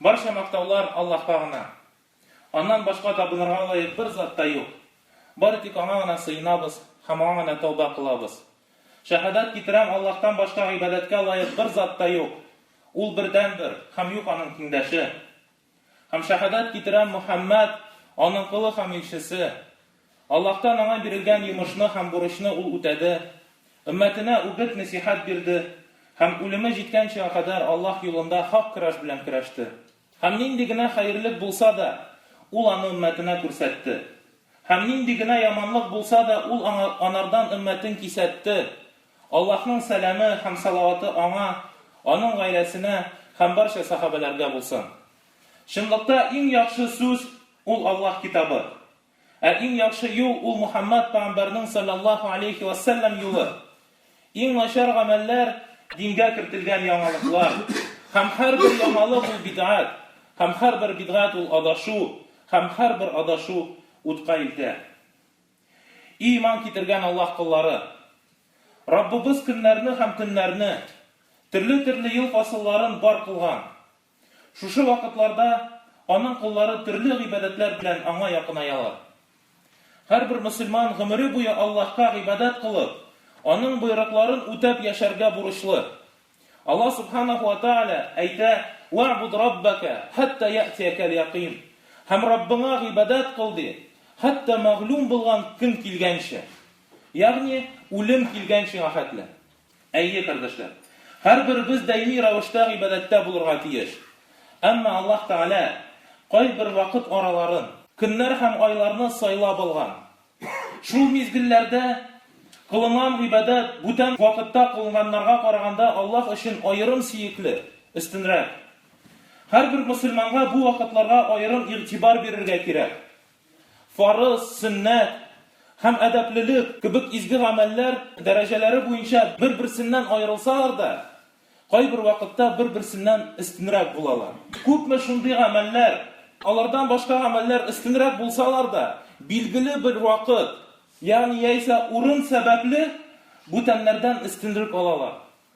Барча мактаулар Аллаһка гына. Аннан башка табынырга лаек бер зат та юк. Бары тик Аңа гына сыенабыз һәм Аңа гына тәүбә кылабыз. Шәһадәт китерәм, Аллаһтан башка гыйбадәткә лаек бер зат та юк. Ул бердәнбер, һәм юк Аның тиңдәше. Һәм шәһадәт китерәм, Мөхәммәд, Аның колы һәм илчесе. Аллаһтан аңа бирелгән йомышны һәм бурычны ул үтәде, өммәтенә үгет-нәсыйхәт бирде һәм үлеме җиткәнчегә кадәр Аллаһ юлында хак көрәш белән көрәште. Һәм нинди генә хәерлек булса да, ул аны өммәтенә күрсәтте. Һәм нинди генә яманлык булса да, ул аңа, анардан өммәтен кисәтте. Аллаһның сәламе һәм салаваты аңа, аның гаиләсенә һәм барча сәхабәләргә булсын. Чынлыкта иң яхшы сүз, ул Аллаһ Китабы. Ә иң яхшы юл ул Мухаммад пәгамбәрнең салләллаһу алейһи вә сәлләм юлы. Иң начар гамәлләр, дингә кертелгән яңалыклар. Һәм һәрбер яңалык ул бидгать, һәм һәрбер бидгать ул адашу, һәм һәрбер адашу утка илтә. И иман китергән Аллаһ коллары! Раббыбыз көннәрне һәм төннәрне, төрле-төрле ел фасылларын бар кылган. Шушы вакытларда аның коллары төрле гыйбадәтләр белән аңа якынаялар. Һәрбер мөселман гомере буе Аллаһка гыйбадәт кылып, Аның боерыкларын үтәп яшәргә бурычлы. Аллаһ Сүбхәнәһү вә Тәгалә әйтә, Вә'буд Раббәкә хәттә я'тиякәл якыйн, һәм Раббыңа гыйбадәт кыл, ди, хәтта мәгълүм булган көн килгәнче, ягъни үлем килгән чиңа хәтле. Әйе, кардәшләр. Һәрберебез даими рәвештә гыйбадәттә булырга тиеш. Әмма Аллаһ Тәгалә кайбер вакыт араларын, көннәр һәм айларны сайлап алган. Шул мизгелләрдә кылынган гыйбадәт бүтән вакытта кылынганнарга караганда Аллаһ өчен аерым сөекле, өстенрәк. Һәрбер мөселманга бу вакытларга аерым игътибар бирергә кирәк. Фарыз, сөннәт һәм әдәплелек кебек изге гамәлләр дәрәҗәләре буенча бер-берсеннән аерылсалар да, кайбер вакытта бер-берсеннән өстенрәк булалар. Күпме шундый гамәлләр, алардан башка гамәлләр өстенрәк булсалар да, билгеле бер вакыт, ягъни яисә урын сәбәпле, бүтәннәрдән өстенлек алалар.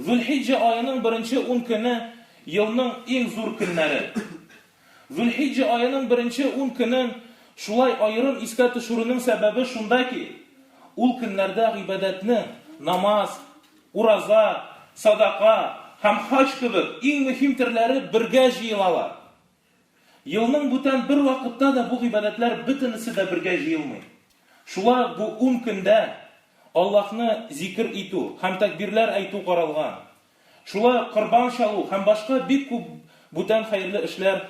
Зулхиҗҗә аеның беренче ун көне, елның иң зур көннәре. Зулхиҗҗә аеның беренче ун көнен шулай аерым искә төшерүнең сәбәбе шунда ки, ул көннәрдә гыйбадәтне, намаз, ураза, садака һәм хаҗ кебек иң мөһим төрләре бергә җыелалар. Елның бүтән бер вакытта да бу гыйбадәтләр бөтенесе дә бергә җыелмый. Шулай ук бу ун көндә Аллаһны зикер итү һәм тәкбирләр әйтү каралган. Шулай ук корбан чалу һәм башка бик күп бүтән хәерле эшләр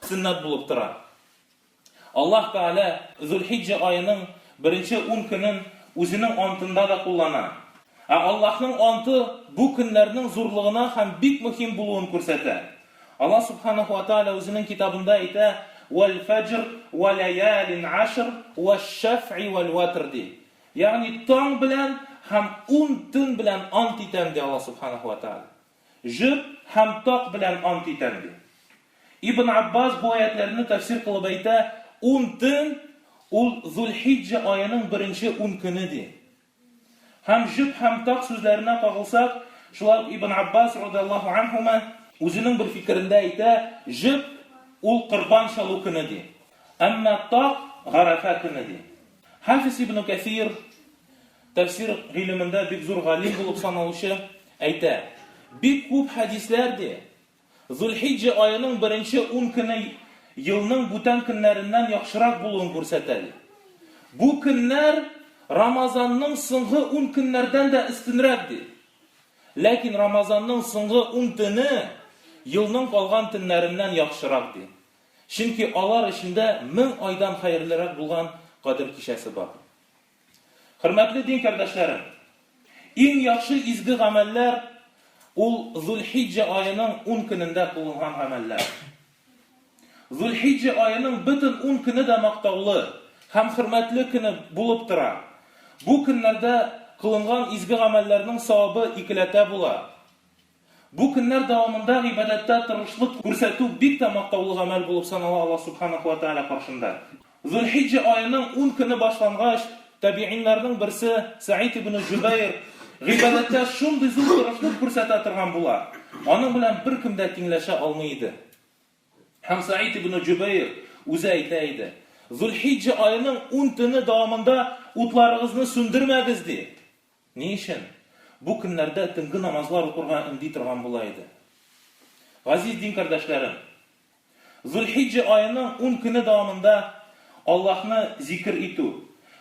сөннәт булып тора. Аллаһ Тәгалә Зулхиҗҗә аеның беренче ун көнен үзенең антында да куллана. Ә Аллаһның анты бу көннәрнең зурлыгына һәм бик мөһим булуын күрсәтә. Аллаһ Сүбхәнәһү вә Тәгалә Үзенең Китабында әйтә, Вәл-фәҗр, вә ләялин ашр, вәш-шәфъи вәл-вәтр, ди. Ягъни таң белән һәм ун төн белән ант итәм, ди Аллаһ Сүбхәнәһү вә Тәгалә. Җыр һәм так белән ант итәм, ди. Ибн Аббас бу аятьләрне тәфсир кылып әйтә, Ун төн, ул Зул-Хиҗҗә аеның беренче ун көне, ди. Һәм җөп һәм таг сүзләренә кагылсак, шулай ук Ибн Аббас, радиаллаһу анһума, үзенең бер фикерендә әйтә, җөп, ул корбан чалу көне, ди. Әмма таг, гарәфә көне, ди. Хафиз Ибн Кәсир, тәфсир гыйлемендә бик зур галим булып саналучы, әйтә, бик күп хәдисләр, ди, Зулхиҗҗә аеның беренче ун көне елның бүтән көннәреннән яхшырак булуын күрсәтә, ди. Бу көннәр Рамазанның соңгы ун көннәрдән дә өстенрәк, ди. Ләкин Рамазанның соңгы ун төне елның калган төннәреннән яхшырак, ди. Чөнки алар эчендә мең айдан хәерлерәк булган Кадер кичәсе бар. Хөрмәтле дин кардәшләрем! Иң яхшы изге гамәлләр ул Зулхиҗҗә аеның ун көнендә кылынган гамәлләр. Зулхиҗҗә аеның бөтен ун көне дә мактаулы һәм хөрмәтле көне булып тора. Бу көннәрдә кылынган изге гамәлләрнең савабы икеләтә була. Бу көннәр дәвамында гыйбадәттә тырышлык күрсәтү бик тә мактаулы гамәл булып санала Аллаһ Субханәһү вә Тәгалә каршында. Зулхиҗҗә аеның ун көне башлангач, табигыйньләрнең берсе Сәгыйдь ибне Җөбәйр гыйбадәттә шундый зур тырышлык күрсәтә торган була, аның белән беркем дә тиңләшә алмый иде. Һәм Сәгыйдь ибне Җөбәйр үзе әйтә иде, Зулхиҗҗә аеның ун төне дәвамында утларыгызны сүндермәгез, ди. Ни өчен? Бу көннәрдә төнге намазлар укырга өнди торган була иде. Газиз дин кардәшләрем! Зулхиҗҗә аеның ун көне дәвамында Аллаһны зикер итү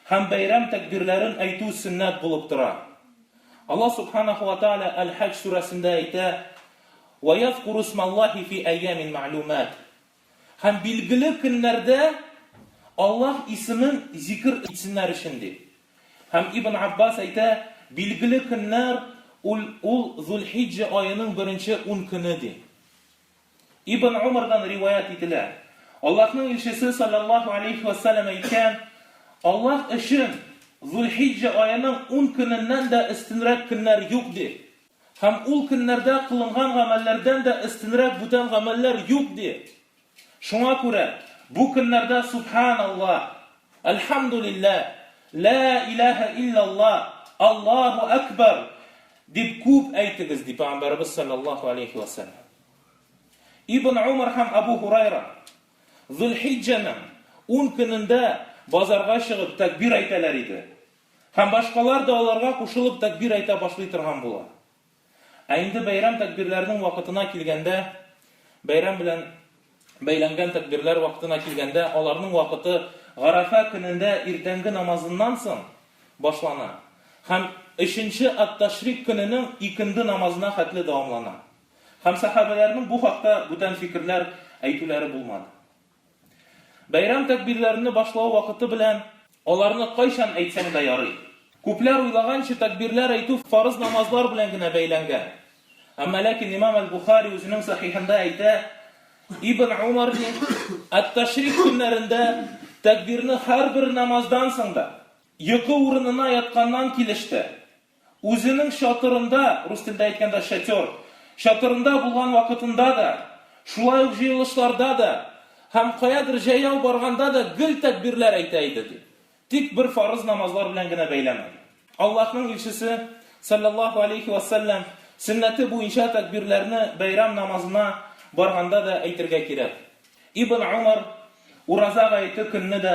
һәм бәйрәм тәкбирләрен әйтү сөннәт булып тора. Аллаһ Субханәһү вә Тәгалә Әл-Хаҗ сүрәсендә әйтә, Вә язкуру смаллаһи фи әйямин мәгълүмәт. Һәм билгеле көннәрдә Аллаһ исемен зикер итсеннәр өчен, ди. Һәм Ибн Аббас әйтә, Билгеле көннәр ул ул Зулхиҗҗә аеның беренче ун көне, ди. Ибн Умардан риваять ителә, Аллаһның илчесе салләллаһу алейһи вә сәлләм әйткән, Аллаһ өчен Зулхиҗҗә аеның ун көненнән дә өстенрәк көннәр юк, ди. Һәм ул көннәрдә кылынган гамәлләрдән дә өстенрәк бүтән гамәлләр юк, ди. Шуңа күрә бу көннәрдә Сүбхәналлаһ, Әлхәмдүлилләһ, Лә иләһә илляллаһ, Аллаһу әкбәр! дип күп әйтегез, ди Пәйгамбәребез салләллаһу галәйһи вә сәлләм. Ибн Умар һәм Әбү Һурайра Зулхиҗҗәнең ун көнендә базарга чыгып тәкбир әйтәләр иде. Һәм башкалар да аларга кушылып тәкбир әйтә башлый торган була. Ә инде бәйрәм тәкбирләренең вакытына килгәндә, бәйрәм белән бәйләнгән тәкбирләр вакытына килгәндә, аларның вакыты Гарәфә көнендә иртәнге намазыннан соң башлана һәм өченче ат-Ташрик көненең икенде намазына хәтле дәвамлана. Һәм сәхабәләрнең бу хакта бүтән фикерләр әйтүләре булмады. Бәйрәм тәкбирләрне башлау вакыты белән аларны кайчан әйтсәң дә ярый. Күпләр уйлаганча, тәкбирләр әйтү фарыз намазлар белән генә бәйләнгән. Әмма ләкин имам әл-Бухари үзенең Сахихында әйтә, Ибн Умар, ди, Ат-Ташрик көннәрендә тәкбирне һәрбер намаздан соң да, йокы урынына ятканнан килеш тә, Үзенең чатырында, рус телендә әйткәндә, шатер, чатырында булган вакытында да, шулай ук җыелышларда да һәм каядыр җәяү барганда да гел тәкбирләр әйтә иде, ди. Тик бер фарыз намазлар белән генә бәйләмәде. Аллаһның илчесе, салләллаһу галәйһи вә сәлләм, сөннәте буенча тәкбирләрне бәйрам намазына барганда да әйтергә кирәк. Ибн Умар ураза гаете көнне дә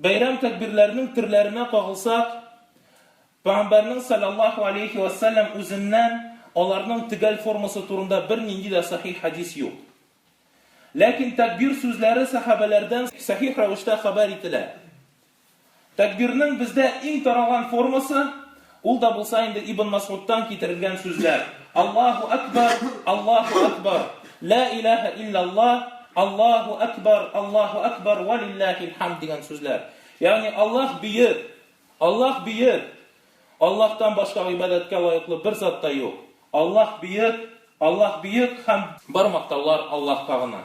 Бәйрәм тәкбирләренең төрләренә кагылсак, Пәйгамбәрнең салләллаһу галәйһи вә сәлләм үзеннән аларның төгәл формасы турында бернинди дә сахих хәдис юк. Ләкин тәкбир сүзләре сәхабәләрдән сахих рәвештә хәбәр ителә. Тәкбирнең бездә иң таралган формасы, Ул да булса инде Ибн Масгудтан китерелгән сүзләр. Аллаһу Әкбар, Аллаһу Әкбар, Лә иләһә илляллаһ, Аллаһу Әкбар, Аллаһу Әкбар, вә лилләһил хәмд дигән сүзләр. Ягъни Аллаһ бөек, Аллаһ бөек, Аллаһтан башка гыйбадәткә лаеклы бер зат та юк. Аллаһ бөек, Аллаһ бөек һәм бар мактаулар Аллаһка гына.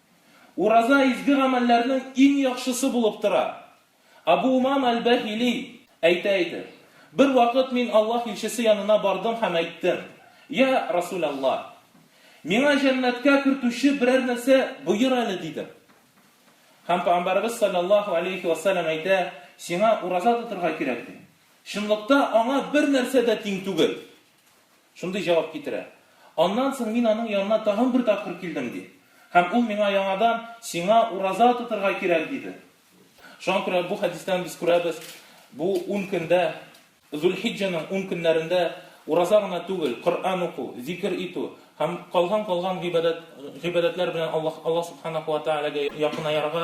Ураза изге гамәлләрнең иң яхшысы булып тора. Абу Умама әл-Бәһили әйтә иде, Бервакыт мин Аллаһ илчесе янына бардым һәм әйттем, Йә, Расүл Аллаһ! Миңа җәннәткә кертүче берәр нәрсә боер әле, дидем. Һәм Пәйгамбәребез салләллаһу галәйһи вә сәлләм әйтә, Сиңа ураза тотырга кирәк, ди. Чынлыкта аңа бер нәрсә дә тиң түгел. Шундый җавап китерә. Аннан соң мин аның янына тагын бер тапкыр килдем, ди. Һәм ул миңа яңадан, Сиңа ураза тотырга кирәк, диде. Шуңа күрә бу хәдистән без күрәбез, бу ун көндә, Зулхиҗҗәнең ун көннәрендә ураза гына түгел, Коръән уку, зикер итү һәм калган-калган гыйбадәт, гыйбадәтләр белән Аллаһ, Аллаһ Субханаһу ва Тәгаләгә якынаярга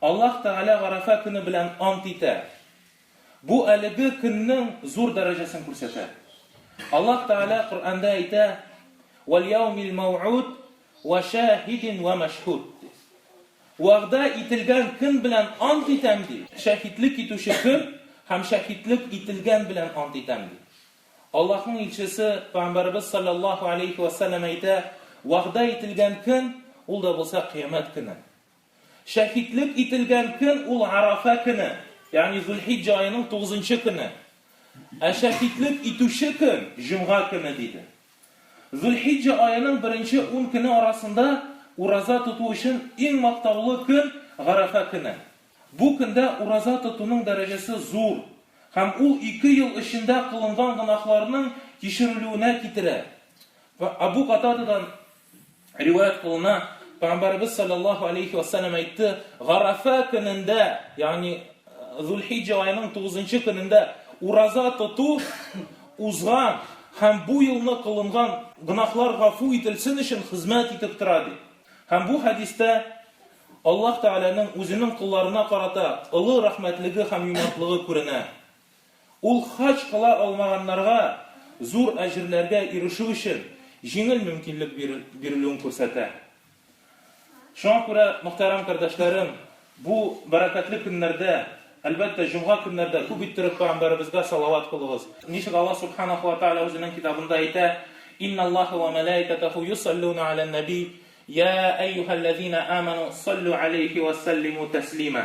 Аллаһ Тәгалә Гарәфә көне белән ант итә. Бу әлеге көннең зур дәрәҗәсен күрсәтә. Аллаһ Тәгалә Коръәндә әйтә, Вәлъяумил мәүгуд вә шәһидин вә мәшһүд. Вәгъдә ителгән көн белән ант итәм, ди. Шәһидлек итүче көн һәм шәһидлек ителгән белән ант итәм, ди. Аллаһның илчесе, пәйгамбәребез салләллаһу алейһи вә сәлләм әйтә, Вәгъдә ителгән көн, ул да булса кыямәт көне. Шәһитлек ителгән көн ул Арафа көне, ягъни Зулхиҗҗә аеның тугызынчы көне. Ә шәһитлек итүче көн, җомга көне, диде. Зулхиҗҗә аеның беренче ун көне арасында ураза тоту өчен иң мактаулы көн, Гарәфә көне. Бу көндә ураза тотуның дәрәҗәсе зур һәм ул ике ел эчендә кылынган гөнаһларның кичерелүенә китерә. Әбү Катададан. Риваять кылына, Пәйгамбәребез саллаллаһу алейхи ва саллям әйтте, Гарафа көнендә, ягъни Зулхиҗа аеның 9 көнендә ураза тоту узган һәм бу елны кылынган гөнаһлар гафу ителсен өчен хезмәт итеп тора ди. Һәм бу хәдистә Аллаһ Тәгаләнең үзенең колларына карата олы рәхмәтлеге һәм юмартлыгы күренә. Ул хаҗ кыла алмаганнарга зур әҗерләргә ирешү өчен җиңел мөмкинлек бирелүен күрсәтә. Шуңа күрә, мөхтәрәм кардәшләрем, бу бәрәкәтле көннәрдә, әлбәттә, җомга көннәрдә күп иттереп пәйгамбәребезгә салават кылыгыз. Ничек Аллаһ Сүбхәнәһү вә Тәгалә Үзенең Китабында әйтә, Инналлаһа вә мәләикәтәһү йосаллүнә галән нәби, йә әйюһәлләзинә әмәну, саллү галәйһи вә сәллимү тәслимә.